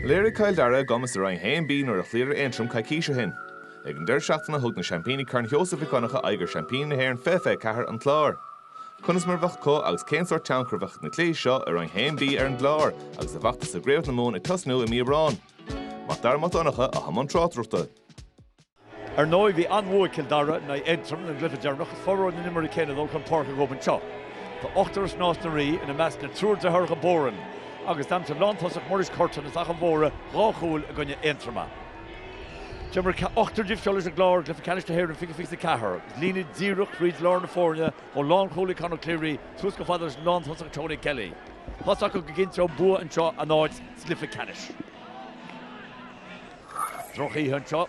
Léirigh Cill Dara a gcumas i Roinn 1B nuair a chloíodar Aontroim coicís ó shin. Ag an deireadh seachtaine thug na seaimpíní Chorn Sheosaimh Mhic Dhonncha aghaidh ar sheaimpíní na hÉireann Fiche Fiche 4, An Clár. Conas mar a bheadh acu agus cén sórt tionchar a bheadh ag na cluichí seo i Roinn 1B ar an gClár agus a bhfeachtas i gCraobh na Mumhan ag tosnú i mí Aibreán? Macdara Mac Donncha, atá i mbun tráchtaireachta. Ar ndóigh, bhí an-bhua ag Cill Dara in aghaidh Aontroim ina gcluiche deireanach. Is furmhór na n-imreoirí céanna ag dul chun páirce acu anseo. Tá ochtar as Nás na Rí, ina measc na triúr deartháireacha Boran, agus d'aimsigh lántosach Muiris Curtin as Achadh an Mhórdha dhá chúl i gcoinne Aontroma. D'imir ochtar díobh seo leis an gClár i gCluiche Ceannais na hÉireann 20 fiche 4, agus líne díreach trí lár na foirne ó lánchúlaí Conor Cleary suas go fad leis an lántosach Tony Kelly. Tá's acu go gcinnteodh bua anseo a n-áit sa gcluiche ceannais. Drochoíche anseo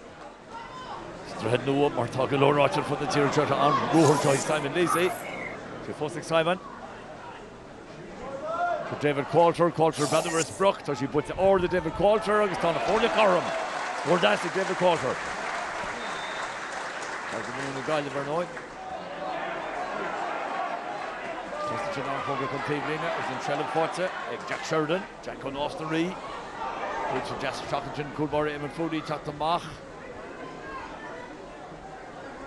sa Droichead Nua mar tá go leor ráite ar fud na tíre anseo faoin ruathar seo ag Simon Lacey. Tá sé fós ag Simon. Tá David Qualter, Qualter beadh ar a sprioc, tá sí buaite ard ag David Qualter agus tá na foirne cothrom. Scór deas ag David Qualter. Tá go mion na Gaillimh ar ndóigh. Tá sin an poc taobhlíne agus an seilbh faighte ag Jack Sheridan. Jack ó Nás na Rí, Bíonn sé deas an seachtain sin cúl báire Éamonn Foody teacht amach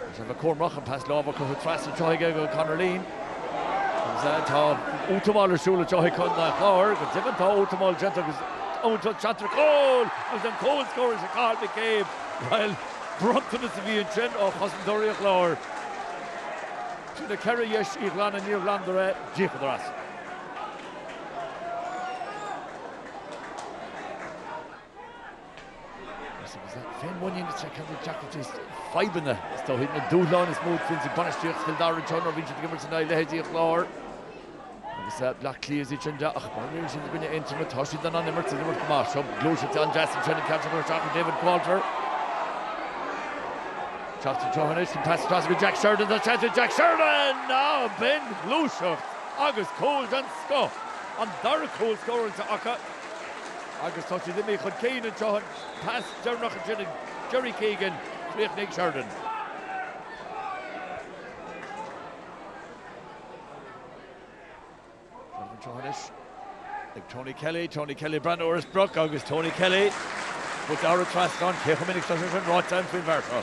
agus Eva Cormach an pas láimhe curtha tras an tsoithigh ag Conor Leen agus é tá útamáil ar siúl i dtaobh Chontae Chláir go deimhin tá útamáil déanta agus iomaí turas teacht ar gcúl agus an cúl scóráilte ag Cathal McCabe bhuel bronntanas a bhí ansin ó chosantóirí an Chláir sin a ceithre dheis Uí Ghlanna Níor ghlanadar é d'íocadar as. fadhbanna, is dóigh. Na dúshláin is mó a bhíonns ag bainistíocht Chill Dara, nuair a, bíonn siad ag imirt in aghaidh leithéidí an Chláir agus Bleá Cliath is iad ach má imríonn siad i gcoinne Aontroma, tá siad in ann imirt is imirt go maith. Seo gluaiseacht an-deas ansin, an ceann seo curtha isteach ar David Qualter. Teacht an treo seo anois, an pas isteach go Jack Sheridan, tá seans ag Jack Sheridan! Á, b'in ghluaiseacht! Agus cúl den scoth! An dara cúl scóráilte acu agus tá siad imithe chun cinn anseo. An pas deireanach ansin ag Gerry Keegan, chríochnaigh Sheridan. Sheridan anseo anois ag Tony Kelly, Tony Kelly, breathnú ar an sprioc agus Tony Kelly thar an trasnán. Cé chomh minic atá sé sin ráite againn faoin bhfear seo?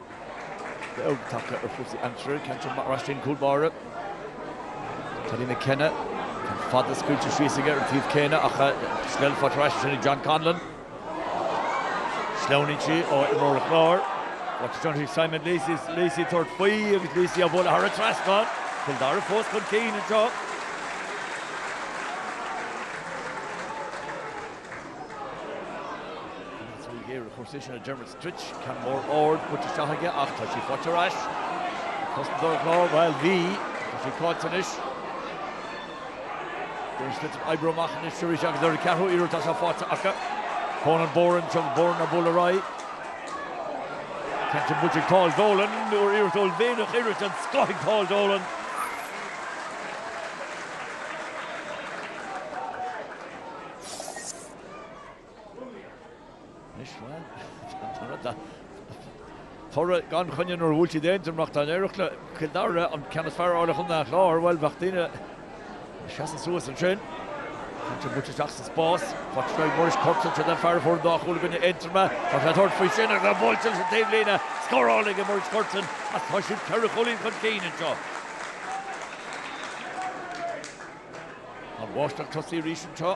Feabhas beag tagtha ar chúrsaí aimsire, Catherine McRae-Stein, Cúil Báire. Paddy McKenna, an fad a scaoiltear síos aige ar an taobh céanna ach tá sí faighte ar ais ansin ag John Conlon. Sleamhnaíonn sí ó imreoir an Chláir. Watch John Hughes, Simon Lacey, Lacey ag tabhairt faoi agus Lacey á bhualadh thar an trasnán. Cill Dara fós chun cinn anseo. Dermot Druid, ceann mór ard curtha isteach aige ach tá sí faighte ar ais ag cosantóir an Chláir, bhuel, bhí, tá sí caillte anois. David Fitz ag oibriú amach anois arís agus ar an gceathrú iarracht tá sé faighte acu. Conan Boran, Conan Boran ag bualadh ar aghaidh. Kenton Butcher ag Paul Dolan, ó iarracht uaillmhianach scór den scoth ag Paul Dolan. Toradh gan choinne nuair a bhuail siad Aontroim Tá an iarracht le Cill Dara an ceann is fearr a fháil ar Chontae an Chláir. Bhuel, bheadh daoine ag seasamh suas ansin. Tá sé buailte isteach sa spás. Faighte ag Muiris Curtin. Seo an fear a fuair an dá chúl i gcoinne Aontroma. Tá sé ag tabhairt faoi sin agus é buailte leis an taobhlíne. Scóráilte aige Muiris Curtin agus tá siad ceithre chúilín chun cinn anseo. An bháisteach tosaithe arís anseo.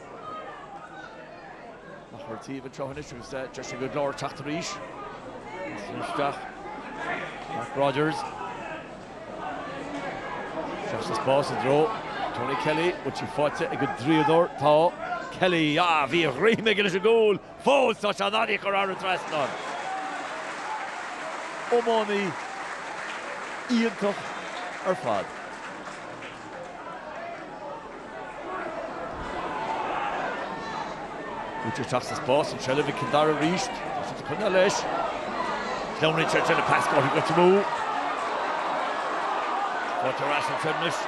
Ach ar an taobh anseo anois agus Éire Óg an Clár ag teacht arís. Is é isteach Mark Rodgers. Isteach sa spás i dtreo Tony Kelly. Bhfuil sí faighte ag an draíodóir? Tá. Kelly, ah bhí a dhroim aige leis an gcúl! Fós tá sé in ann í a chur thar an trasnán. Iománaí iontach ar fad. Buailte isteach sa spás in seilbh ag Cill Dara arís. Tá siad ag coinneáil leis. Sleamhnaíonn sé de le pas go dtí Goitse mó. Faighte ar ais ag an gClár anois.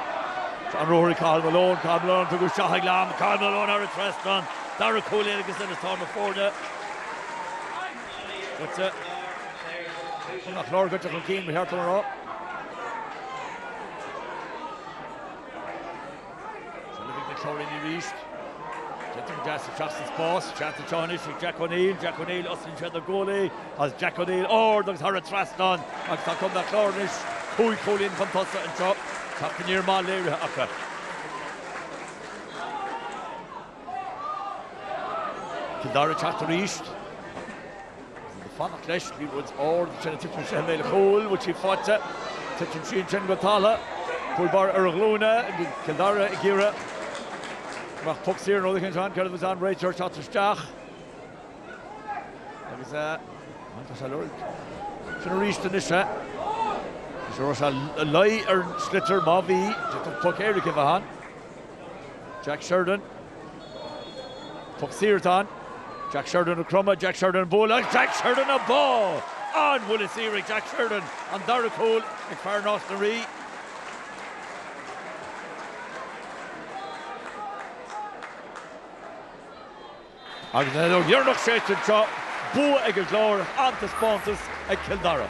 An ruathar Cathal Malone. Cathal Malone tugadh isteach ag Lam. Cathal Malone thar an trasnán. Dara cúl air agus Inis Tár na foirne. Goitse. An Clár Goitse chun cinn, ba cheart dom a rá. Sula bhfaighidh na treoraí arís, déanta go deas isteach sa spás. Seans anseo anois ag Jack O'Neill. Jack O'Neill, osclaíonn sé don gcúl agus Jack O'Neill ard agus thar an trasnán agus tá Contae an Chláir anois cúig cúilín chun tosaigh anseo. Teacht aniar maith léirithe acu. Cill Dara ag teacht arís. Bhí ag fanacht leis, liathróid ard ansin a thiteann sé i mbéal a chúil, bhfuil sí faighte? Titeann sí ansin go talla, cúl báire ar a ghlúine, Cill Dara ag iarraidh go mbeadh poc saor nó rud éicint ann, céard a bheas ann, réiteoir ag teacht isteach agus bhuel tá sé ag lorg sin aríst anois eh? Anois an raibh sé ina luí ar an sliotar, má bhí, d'fhéadfadh poc éirice a bheith ann. Jack Sheridan. Poc saor atá ann. Jack Sheridan ag cromadh, Jack Sheridan ag bualadh agus Jack Sheridan ag bá! An buille saor ag Jack Sheridan, an dara cúl ag fear Nás na Rí. Agus an fheadóg dheireanach séidte anseo, bua ag an gClár ach an-taispeántas ag Cill Dara.